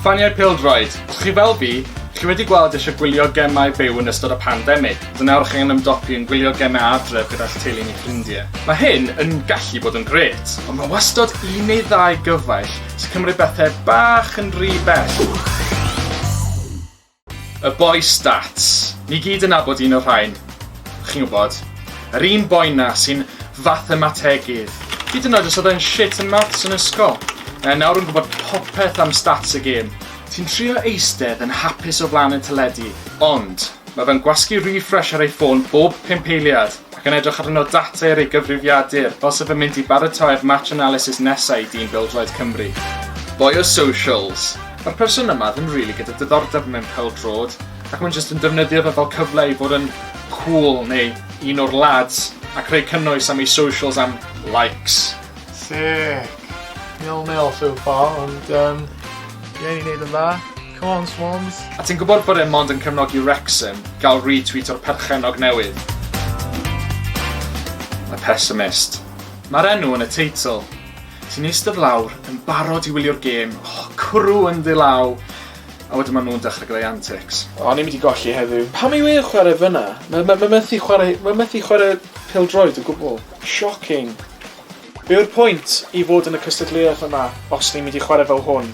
Ffaniau pêl-droed, os chi fel fi, chi wedi gweld eisiau gwylio gemau byw yn ystod y pandemig, ond nawr chi angen ymdopi yn gwylio gemau adref gyda'ch teulu neu ffrindiau. Mae hyn yn gallu bod yn grêt, ond mae wastod un neu ddau gyfaill sy'n cymryd pethau bach yn rhy bell. Y bois stats. Ni gyd yn nabod un o'r rhain. Chi'n gwybod. Yr un boi 'na sy'n fathemategydd. Hyd yn oed os oedd e'n shit yn maths yn ysgol. Mae nawr yn gwybod popeth am stats y gêm. Ti'n trio eistedd yn hapus o flaen y teledu, ond mae fe'n gwasgu refresh ar ei ffôn bob pump eiliad. ac yn edrych arno data ar ei gyfrifiadur fel se fe'n mynd i baratoi'r match analysis nesa i dîm bêl-droed Cymru. Boi o socials! Mae'r person yma ddim rili gyda diddordeb mewn pêl-drod ac mae'n jyst yn defnyddio fe fel cyfle i fod yn cŵl neu un o'r lads ac rhoi cynnwys am ei socials am likes. Sick! Nil nil so far ond yym ie ni'n neud yn dda. Come on Swans! A ti'n gwybod bod e mond yn cefnogi Wrexham, gael retweet o'r perchennog newydd? A pessimist. Mae'r enw yn y teitl. Ti'n eistedd lawr, yn barod i wylio'r gêm, oh, cwrw ynddi law, a wedyn maen nhw'n dechrau gyda'i antics. O, ni'n mynd i golli heddiw. Pam yw e'n chwarae fyna? Mae, mae, mae methu chwarae, mae methu chwarae pêl-droed o gwbl. Shocking. Be yw'r pwynt i fod yn y cystadleuaeth yma os ni'n mynd i chwarae fel hwn?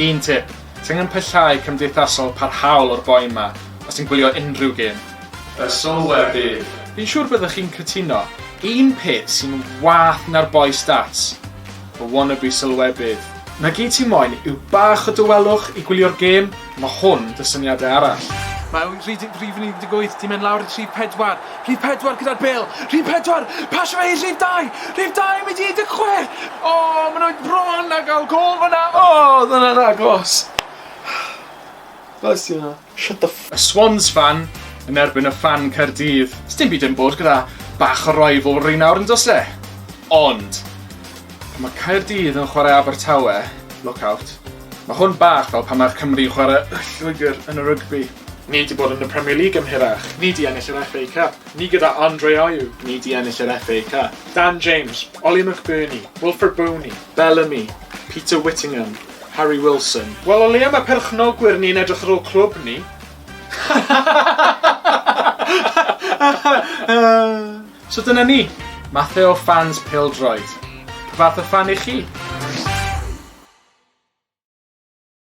Un tip, ti angen pyllau cymdeithasol parhaol o'r boi 'ma os ti'n gwylio unrhyw gêm. Y sylwer bydd. Fi'n siŵr byddwch chi'n cytuno. Un peth sy'n wath na'r boi stats, y wannabe sylwebydd. Na gyd ti moyn yw bach o dawelwch i gwylio'r gêm, Mae hwn da syniadau arall. Mae rhif 18 di mynd lawr i rhif 4. Rhif 4 gyda'r bêl. Rhif 4! Pasio fe i rhif 2! Rhif 2 yn mynd i 16! O, maen nhw bron a gael gol fan'na. O, oedd hwnna'n agos. Glas i hwnna. Shut the Y Swans fan yn erbyn y fan Caerdydd. Sdim byd yn bod gyda bach o rivalry nawr yn does e? Ond, pan mae Caerdydd yn chwarae Abertawe, look out. Mae hwn bach fel pan mae'r Cymry yn chwarae Y Lloegr yn y rygbi. Ni 'di bod yn y Premier League am hirach. Ni 'di ennill yr FA Cup. Ni gyda Andre Ayew. Ni 'di ennill yr FA Cup. Dan James, Ollie McBurnie, Wilfred Bony, Bellamy, Peter Whittingham, Harry Wilson. Wel o leia mae perchnogwyr ni'n edrych ar ôl clwb ni. So dyna ni, mathe o ffans pêl-droed. Pa fath o ffan 'ych chi?